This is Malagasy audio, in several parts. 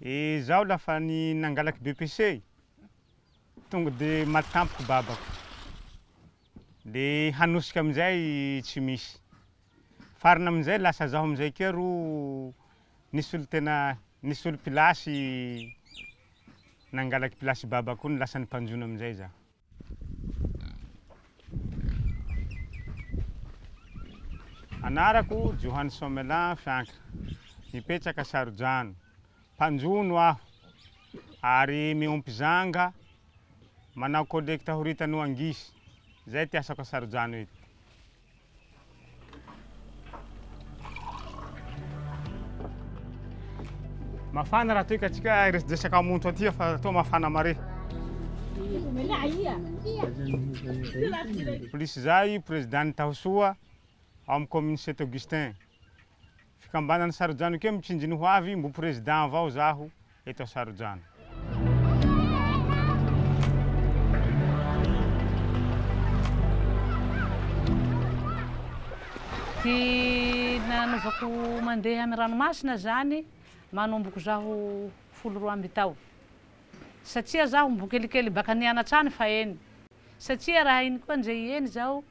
E zaho lafa ny nangalak BPC tonga de maty tampoka babako de hanosika amizay tsy misy farany amizay lasa zaho amizay keo ro nisy olo tena nisy olo pilasy nangalak pilasy babako iny lasa ny mpanjono amizay zaho. Anarako Johany Somelin Fiankra. Mipetraka Sarodrano. Mpanjono aho ary miompy zanga, manao collecte horitany ho angisy. Zay ty asako a Sarodrano eto. Mafana raha toy ka tsika resaka monto aty fa toa mafana mare. Polisy zay président Tahosoa amin'ny commune Saint Augustin. fikambanan'ny Sarojanokeo mitsinjiny ho avy mbo président avao zaho eto Sarojano. Ty nanaovako mandeha ny ranomasina zany manomboko zaho folo roa amby tao satsia zaho mbo kelikely baka nianatra any fa eny satsia raha iny koa nje hieny zaho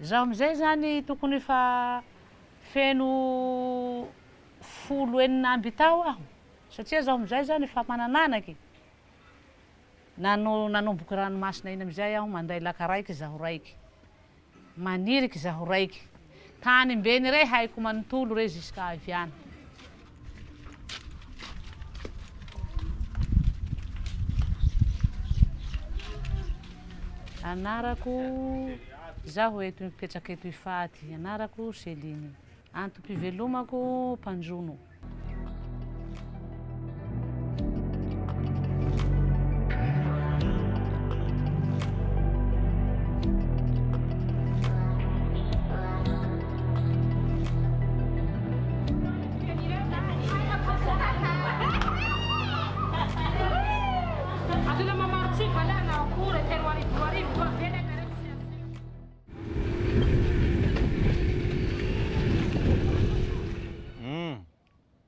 Zaho amizay zany tokony efa feno folo enina amby tao aho satria zaho amizay zany efa manan'anaky nanomboky ranomasina iny amizay aho manday laka raiky zaho raiky maniriky zaho raiky tany mbeny rey haiko manontolo rey jusqu'à avy any Anarako, izaho eto mipetraka eto Ifaty. Anarako Céline. Antom-pivelomako mpanjono.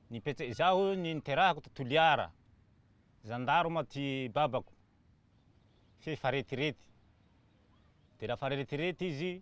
Nipetse izaho ny niterahako to Toliara. Zandarma ty babako. F'efa retirety. Dia lafa retirety izy,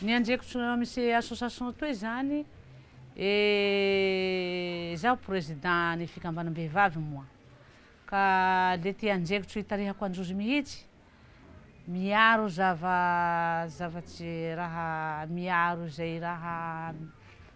Ny anjeko tsy misy association toy izany e izaho président ny fikambanam-behivavy moa ka le ty anjeko tsy hitarihako an-jozy mihitsy miaro zava zava tsy raha miaro izay raha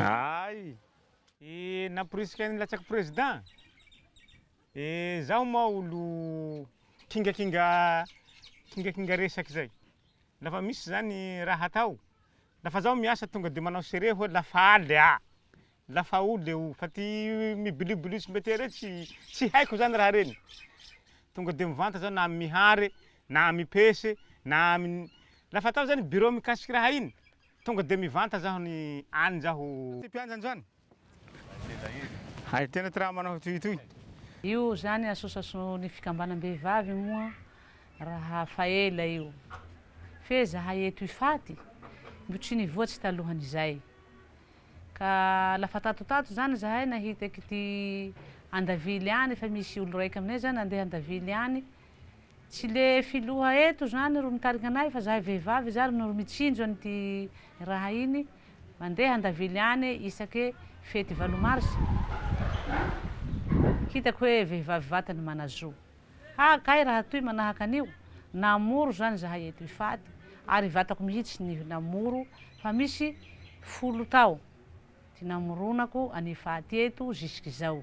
Ay! Eh namporisika ny latsaky président? Eh zaho moa olo kingakinga kingakinga resaky zay. La fa misy zany raha atao, la fa zaho miasa tonga de manao serie hoe la faly ah! Lafaoro le o, fa ty mibilibilio tsy mety reny tsy tsy haiko zany raha reny, tonga de mivanta zao na amy Mihary, na amy Pese, na amy la fa atao zany bureau mikasiky raha iny, tonga de mivanta zaho ny any zaho. Ty mpianjany zany, hay tena ty raha manao toy toy. Io zany association ny fikambanam-behivavy moa raha fa ela io, fe zahay eto Ifaty mbo tsy nivoatry talohan'izay, Ka la fa tato tato zany zahay nahita kity andavily any efa misy olo raiky aminay zany ande andavily any tsy le filoha eto zany ro mitarika anay fa zahay vehivavy zany no mitsinjo an'ity raha iny mande andavily any isake fety valo mars hitako hoe vehivavy vatany manazo Ha kay raha toy manahaka an'io, namoro izany izahay eto Ifady, ary vatako mihitsy ny namoro fa misy folo tao ty namoronako an'i Ifady eto zisk'izao.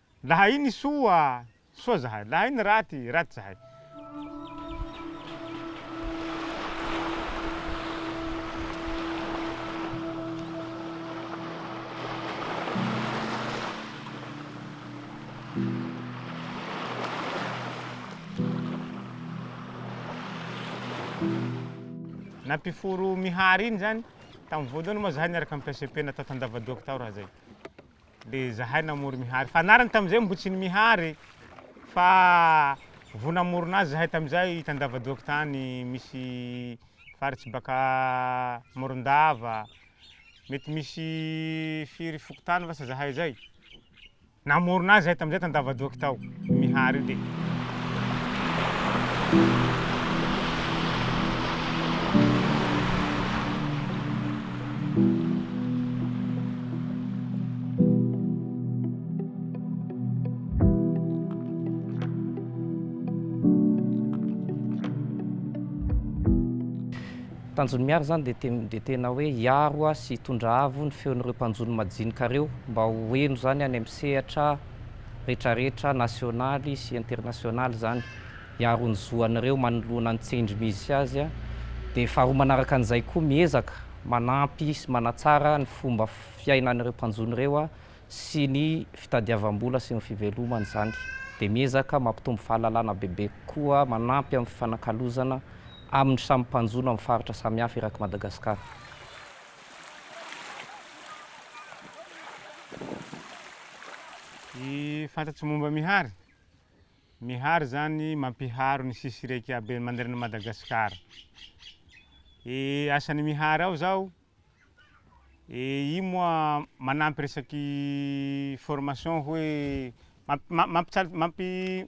Lahay ny soa, soa zahay, lahay ny raty, raty zahay. Na mpiforo Mihary iny zany, tamin'ny voalohany moa zahay niaraka amin'ny PCP natao tandavadoaka tao raha zay. Dia izahay namory Mihary. Fa anarany tamin'izay moa tsy ny Mihary fa vao namorona azy izahay tamin'izay hitandavadoaka tany misy faritsy baka Morondava. Mety misy firy fokontany vasa izahay izay. Namorona azy izahay tamin'izay tandavadoaka tao. Mihary dia. Tanjon'i Mihary izany dia te, dia tena hoe hiaro sy hitondra avo ny feon'ireo mpanjono majinika ireo mba ho heno izany any amin'ny sehatra retraretra nasionaly sy internasionaly izany hiaro ny zo an'ireo manoloana ny tsindry misy azy dia faharoa manaraka an'izay koa miezaka manampy sy manatsara ny fomba fiainan'ireo mpanjono ireo sy ny fitadiavam-bola sy ny fivelomany izany dia miezaka mampitombo fahalalana bebe kokoa manampy amin'ny fifanakalozana amin'ny samy mpanjono amin'ny faritra samihafa eraky Madagasikara. Ny fantatro momba Mihary, Mihary izany mampiharo ny sisy iraika habe manerana an'i Madagasikara. Ny asan'i Mihary ao izao, io moa manampy resaky formation hoe mampi- mampical- mampi-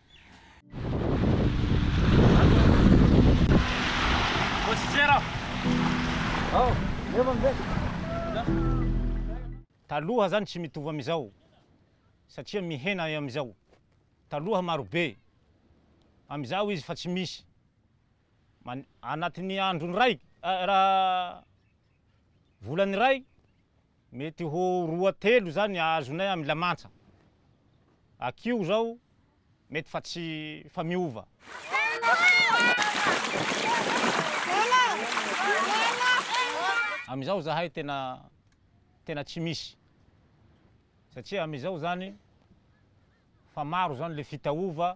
Taloha zany tsy mitovy amizao satria mihena amizao taloha marobe amizao izy fa tsy misy. Anatin'ny androny iray, volany iray, mety ho roa telo izany azonay amin'ny lamansa. Akio izao mety fa tsy fa miova. Amin'izao izahay tena tena tsy misy satria amin'izao izany fa maro izany ilay fitaova.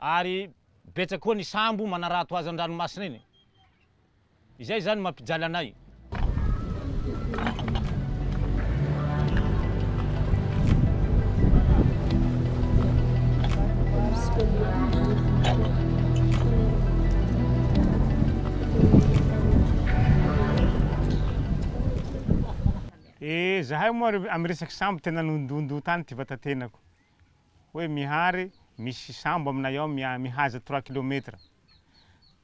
ary betsaka koa ny sambo manarato azy an-dranomasina eny. Izay izany mampijaly anay. Eh, zahay moa amin'ny resaky sambo tena nondondo tany ty vatatenako. hoe Mihary misy sambo aminay ao mihaza trois kilomètre.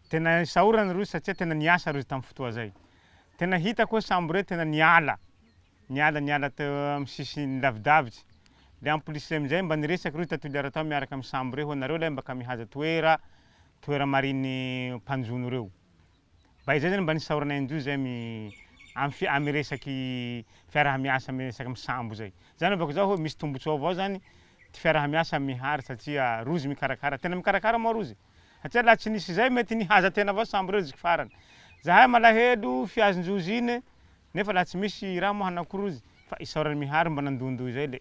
Tena isaorana ireo satria tena niasa ireo tamin'ny fotoa izay. Tena hitako hoe sambo ireo tena niala, niala niala teo amin'ny sisiny nilavidavitra. Dia en plus izay amin'izay mba niresaka ireo tatulière tao miaraka amin'ny sambo ireo hoe nareo lahy mba ka mihaza toera, toera marin'ny mpanjono ireo. Mba izay zany mba nisaoranay indroa zay am am am resaky fiarahamiasa am resaky am sambo zay. Zany hevako zao hoe misy tombotsoa avao zany ty fiarahamiasa am Mihary satria rozy mikarakara, tena mikarakara moa rozy satria laha tsy nisy zay mety nihaza tena avao sambo reo ziky farany. Zahay malahelo fiazonjozy iny nefa laha tsy misy raha moa hanao akory rozy fa isaoran'i Mihary mba nandohindohy zay le.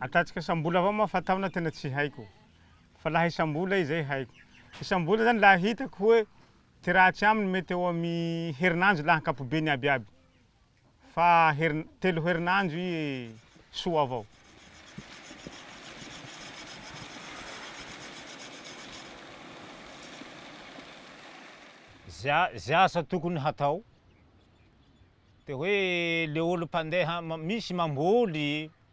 Atratrika sambola avao moa fa taona tena tsy haiko fa laha isambola izay haiko. Isambola zany laha hitako hoe ty raha tsy aminy mety eo amy herinandro laha ankapobeny aby aby fa herin telo herinandro i soa avao. Za ze asa tokony hatao de hoe le olo mpandeha misy mamboly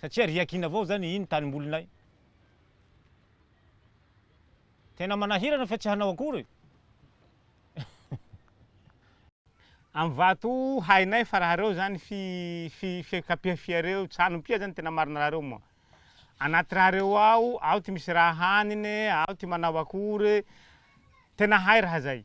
Satria riakiana avao zany iny tanimbolinay. Tena manahirana fa tsy hanao akory. Am vato hainay fa raha reo zany fi fi fiakapiha fiareo tsanompia zany tena marina raha reo moa. Anaty raha reo ao ao ty misy raha hanine ao ty manao akory. Tena hay raha zay.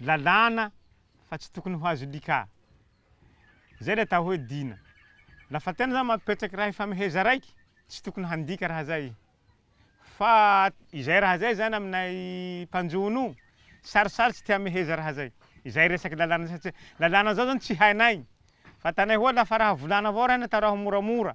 lalàna fa tsy tokony ho azo lika. Zay le atao hoe dina. La fa tena zany mampipetraky raha ifameheza raiky, tsy tokony handika raha zay. Fa izay raha zay zany aminay mpanjono sarosarotsy ty hameheza raha zay. Izay resaky lalàna satria lalàna zao zany tsy hainay. Fantanay hoa la fa raha volana avao raha iny atao raha moramora.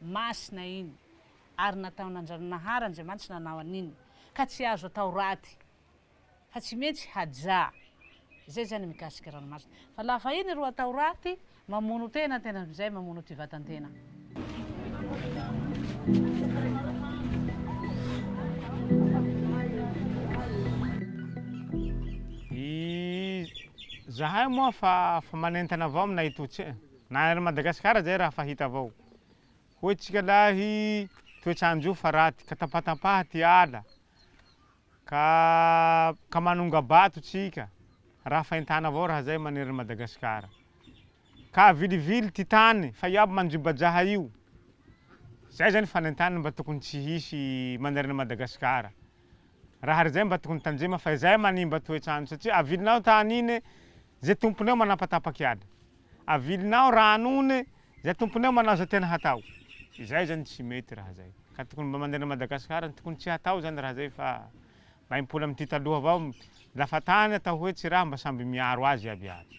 Masina iny, ary nataon'Andrianahnahary Andriamanitra nanao an'iny, ka tsy azo atao raty, fa tsy metsy haja, zay zany mikasika ranomasina, fa la fa iny ro atao raty, mamono tena ny tena mizay, mamono ty vatan-tena. Izahay moa fa manentana avao aminay itotsy e! Na ery Madagascar aza raha fa hita avao hoy tsika lahy toetrandro fa raty ka tapatapaha ty ala ka ka manonga bato tsika raha fa entana avao raha zay manery ny Madagascar ka avilivily ty tany fa iaby manjobajaha io zay zany fanentana mba tokony tsy hisy manery ny Madagascar raha ry zay mba tokony tanjema fa izay manimba toetrandro satria avilinao tany iny ze tomponao manapatapaky ala. avilinao raha anony zay tomponao manao zay tena hatao izay zany tsy mety raha zay ka tokony mba mandeha any Madagascar ny tokony tsy hatao zany raha zay fa mba himpoly amty taloha avao lafa tany atao hoe tsy raha mba samby miaro azy iaby iaby.